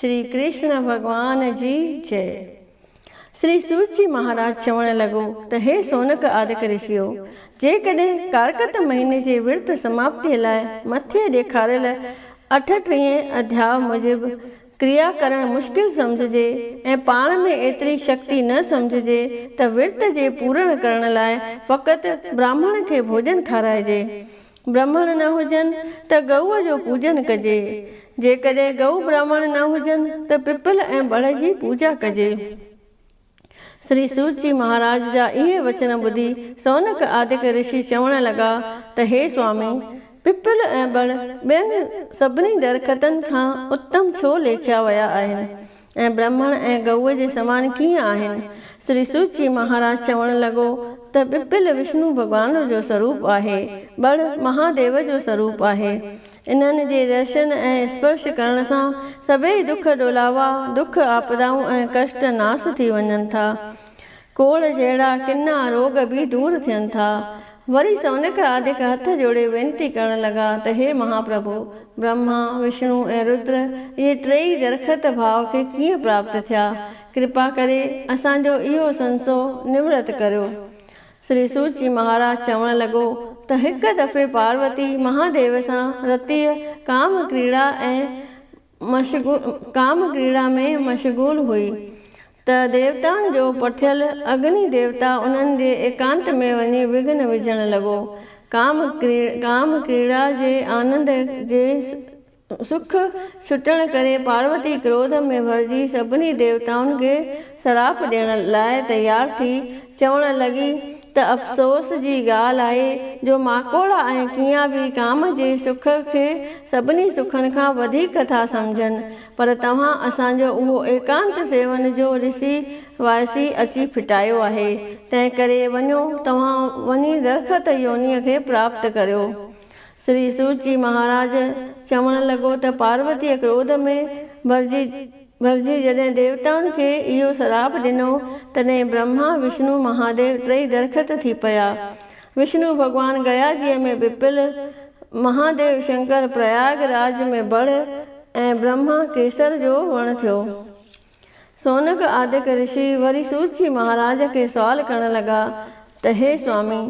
شري ڪرشن ڀڳوان جي جئ. شري سوت جي مهاراج چوڻ لڳو ته هي سونڪ آدڪ رشيو! جيڪڏهن ڪارڪت مهيني جي ورت سماپتيء لاء مٿي ڏيکاريل اٺٽيهين اڌياء موجب ڪريا ڪرڻ مشڪل سمجهجي ۽ پاڻ ۾ ايتري شڪتي نه سمجهجي ته ورت جي پورڻ ڪرڻ لاء فقط براهمڻ کي ڀوڄن کارائجي برهمڻ نه هجن ته ڳئوء جو پوڄن ڪجي. جيڪڏهن ڳئو برهمڻ نه هجن ته پپل ۽ ٻڙهه جي پوڄا ڪجي. سري سوت جي مهاراج جا اهي وچن ٻڌي سونڪ آدڪ رشي چوڻ لڳا ته هي سوامي! پپل ۽ ٻڙهه ٻين سڀني درختن کان اتم ڇو ليکيا ويا آهن؟ ۽ برهمڻ ۽ گئوء جي سمان ڪيئن آهن؟ سري سوچي مهاراج چوڻ لڳو ته ٻپل وشنو ڀڳوان جو سروپ آهي، ٻڙ مهاديو جو سروپ آهي. انهن جي درشن ۽ اسپرش ڪرڻ سان سڀئي دک ڏولاوا، دک آپدائون ۽ ڪشٽ ناس ٿي وڃن ٿا. ڪوڙهه جهڙا ڪنا روڳ به دور ٿين ٿا. وري سونڪ آڌڪ هٿ جوڙي وينتي ڪرڻ لڳا ته هي مهاپرڀو! برهما، وشنو ۽ رودر اهي ٽيئي درخت ڀاء کي ڪيئن پراپت ٿيا؟ ڪرپا ڪري اسان جو اهو سنسو نورت ڪريو. سري سوچي مهاراج چوڻ لڳو ته هڪ دفعي پاروتي مهاديو سان رتيء ڪام ڪريڙا ۽ مشغول ڪام ڪريڙا ۾ مشغول هئي ته ديوتائن جو پٺيل اگني ديوتا انهن جي ايڪانت ۾ وڃي وگهن وجهڻ لڳو. ڪام ڪام ڪريڙا جي آنند جي سک ڇٽڻ ڪري پاروتي ڪروڌ ۾ ڀرجي سڀني ديوتائن کي سراپ ڏيڻ لاء تيار ٿي چوڻ لڳي ته افسوس جي ڳالهه آهي جو ماڪوڙا ۽ ڪيا به ڪام جي سک کي سڀني سکن کان وڌيڪ ٿا سمجهن پر توهان اسان جو اهو ايڪانت سيون جو رسي وائسي اچي ڦٽايو آهي تنهنڪري وڃو توهان وڃي درخت يونيء کي پراپت ڪريو سري سوت جي مهاراج چوڻ لڳو ته پاروتيء ڪروڌ ۾ ڀرجي ڀرجي جڏهن ديوتائن کي اهو سراپ ڏنو، تڏهن برهما، وشنو، مهاديو ٽئي درخت ٿي پيا. وشنو ڀڳوان گياجيء ۾ پپل، مهاديو شنڪر پرياگ راج ۾ بڙ ۽ برهما ڪيسر جو وڻ ٿيو. سونڪ آدڪ رشي وري سوت جي مهاراج کي سوال ڪرڻ لڳا ته هي سوامي!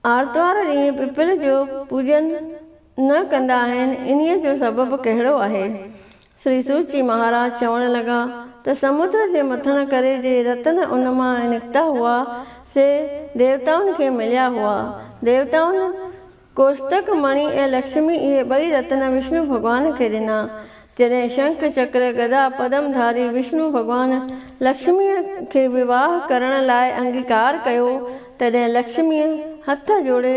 آرتوار ڏينهن پپل جو پوڄن نه ڪندا آهن انهي جو سبب ڪهڙو آهي؟ سري سوچي مهاراج چوڻ لڳا ته سمنڊ جي مٿڻ ڪري جي رتن ان مان نڪتا هئا سي ديوتائن کي مليا هئا. ديوتائن ڪوشتڪ مڻي ۽ لڪشمي اهي ٻئي رتن وشنو ڀڳوان کي ڏنا. جڏهن شنک چڪر گدا پدم ڌاري وشنو ڀڳوان لڪشميء کي وواهه ڪرڻ لاء انگيڪار ڪيو، تڏهن لڪشميء هٿ جوڙي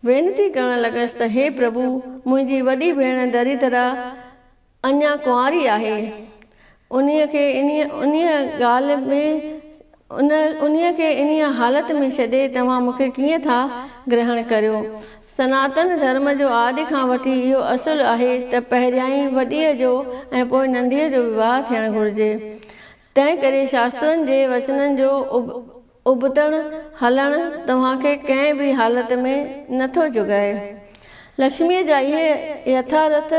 وينتي ڪرڻ لڳس ته هي پرڀو! منهنجي وڏي ڀيڻ دريدرا اڃا ڪنواري آهي، انهيء کي انهيء ڳالهه ۾ ان انهيء کي انهيء حالت ۾ ڇڏي توهان مون کي ڪيئن ٿا گرهڻ ڪريو؟ سناتن ڌرم جو آڏ کان وٺي اهو اصل آهي ته پهريائين وڏيء جو ۽ پوء ننڍيء جو وواهه ٿيڻ گهرجي. تنهن ڪري شاسترن جي وچنن جو ابتڙ هلڻ توهان کي ڪنهن به حالت ۾ نه ٿو جڳائي. لڪشميء جا اهي يٿارٿ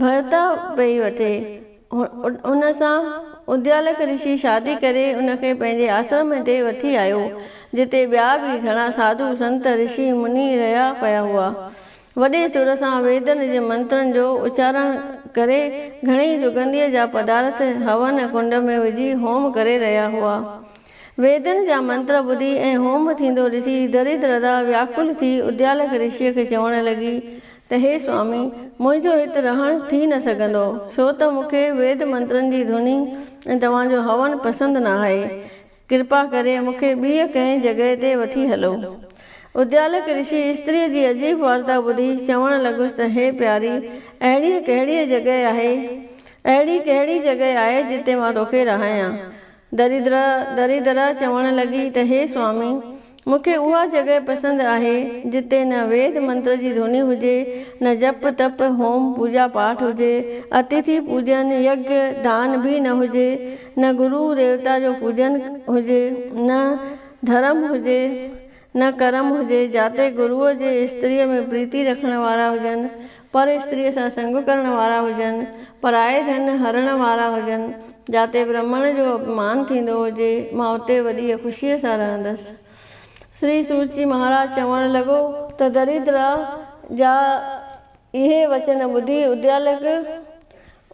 ڀرتا پئي وٺي. ان سان اديالڪ رشي شادي ڪري ان کي پنهنجي آسرم تي وٺي آيو، جتي ٻيا به گهڻا ساڌو، سنت، رشي، مني رهيا پيا هئا. وڏي سر سان ويدن جي منترن جو اچارڻ ڪري گهڻي سگنڌيء جا پدارٿ هون ڪنڊ ۾ وجهي هوم ڪري رهيا هئا. ويدن جا منتر ٻڌي ۽ هوم ٿيندو ڏسي دريد رڌا وياڪل ٿي اديالڪ رشيء کي چوڻ لڳي ته هي سوامي! منهنجو هت رهڻ ٿي نه سگهندو، ڇو ته مون کي ويد منترن جي ڌوني ۽ توهان جو هون پسند نه آهي. ڪرپا ڪري مون کي ٻيء ڪنهن جڳهه تي وٺي هلو. اديالڪ رشي استريء جي عجيب وارتا ٻڌي چوڻ لڳس ته هي پياري! اهڙيء ڪهڙيء جڳهه آهي، اهڙي ڪهڙي جڳهه آهي جتي مان توکي رهايان؟ دريدر، دريدر، چوڻ لڳي ته هي سوامي! مون کي اها جڳهه پسند آهي، جتي نه ويد منتر جي ڌوني هجي، نه جپ، تپ، هوم، پوڄا پاٺ هجي، اتيٿي پوڄن، يگيه، دان به نه هجي، نه گرو، ديوتا جو پوڄن هجي، نه ڌرم هجي، نه ڪرم هجي، جاتي گروء جي استريء ۾ پريتي رکڻ وارا هجن، پر استريء سان سنگ ڪرڻ وارا هجن، پرائي ڌن هرڻ وارا هجن، جاتي برهمڻ جو اپمان ٿيندو هجي، مان اتي وڏيء خوشيء سان رهندس. شري سوچي مهاراج چوڻ لڳو ته دريدرا جا اهي وچن ٻڌي اديالڪ،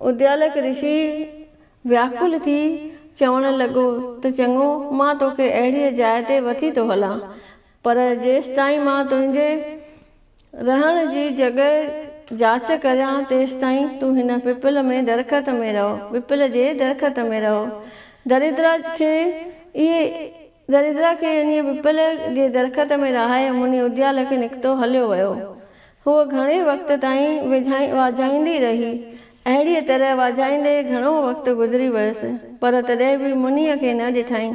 Udyalak Rishi، وياڪل ٿي چوڻ لڳو ته چڱو، مان توکي اهڙيء جاء تي وٺي ٿو هلان، پر جيستائين مان تنهنجي رهڻ جي جڳهه جاچ ڪريان، تيستائين تون هن پپل ۾ درخت ۾ رهو، پپل جي درخت ۾ رهو. دريدرا کي اهي دريدرا کي انهيء پپل جي درخت ۾ رهائي مني اديال کي نڪتو هليو ويو. هوء گهڻي وقت تائين ويجهائي واجهائيندي رهي. اهڙيء طرح واجهائيندي گهڻو وقت گذري ويس، پر تڏهن به منيء کي نه ڏٺائين.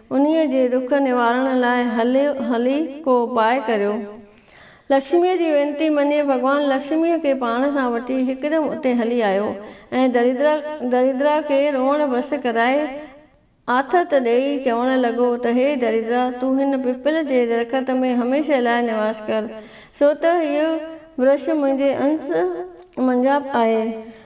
انهيء جي ڏک نوارڻ لاء هليو هلي ڪو اپاء ڪريو. لڪشميء جي وينتي مڃي ڀڳوان لڪشميء کي پاڻ سان وٺي هڪدم اتي هلي آيو ۽ دريدرا دريدرا کي روئڻ بس ڪرائي آٿت ڏيئي چوڻ لڳو ته هي دريدرا تون هن پپل جي درخت ۾ هميشه لاء نواس ڪر ڇو ته هيء برش منهنجي انس منجهان آهي.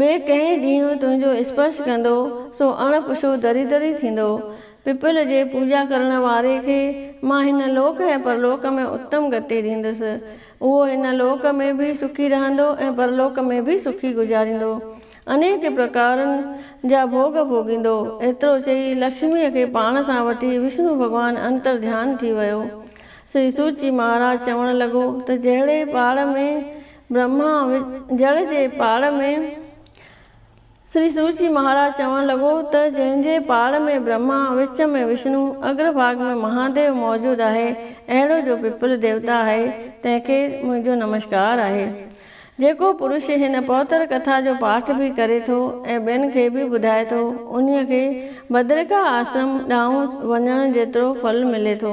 ٻئي ڪنهن ڏينهن تنهنجو اسپرش ڪندو سو اڻ پڇو دريدر ئي ٿيندو. پپل جي پوڄا ڪرڻ واري کي مان هن لوڪ ۽ پرلوڪ ۾ اتم گتي ڏيندس. اهو هن لوڪ ۾ به سکي رهندو ۽ پرلوڪ ۾ به سکي گذاريندو. انيڪ پرڪارن جا ڀوڳ ڀوڳيندو. ايترو چئي لڪشميء کي پاڻ سان وٺي وشنو ڀڳوان انترڌيان ٿي ويو. سري سوچي مهاراج چوڻ لڳو ته جهڙي پاڙ ۾ برهما جڙ جي پاڙ ۾، شري سوچي مهاراج چوڻ لڳو ته جنهن جي پاڙ ۾ برهما، وچ ۾ وشنو، اگر ڀاڳ ۾ مهاديو موجود آهي، اهڙو جو پپل ديوتا آهي، تنهن کي منهنجو نمشڪار آهي. جيڪو پرش هن پهتر ڪٿا جو پاٺ به ڪري ٿو ۽ ٻين کي به ٻڌائي ٿو، انهيء کي بدرڪا آشرم ڏانهن وڃڻ جيترو ڦل ملي ٿو.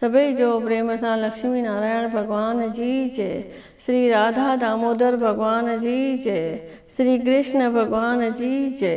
سڀئي جو پريم سان لڪشمي نارائڻ ڀڳوان جي جي، شري راڌا دامودر ڀڳوان جي جي، شري ڪرشن ڀڳوان جي جي.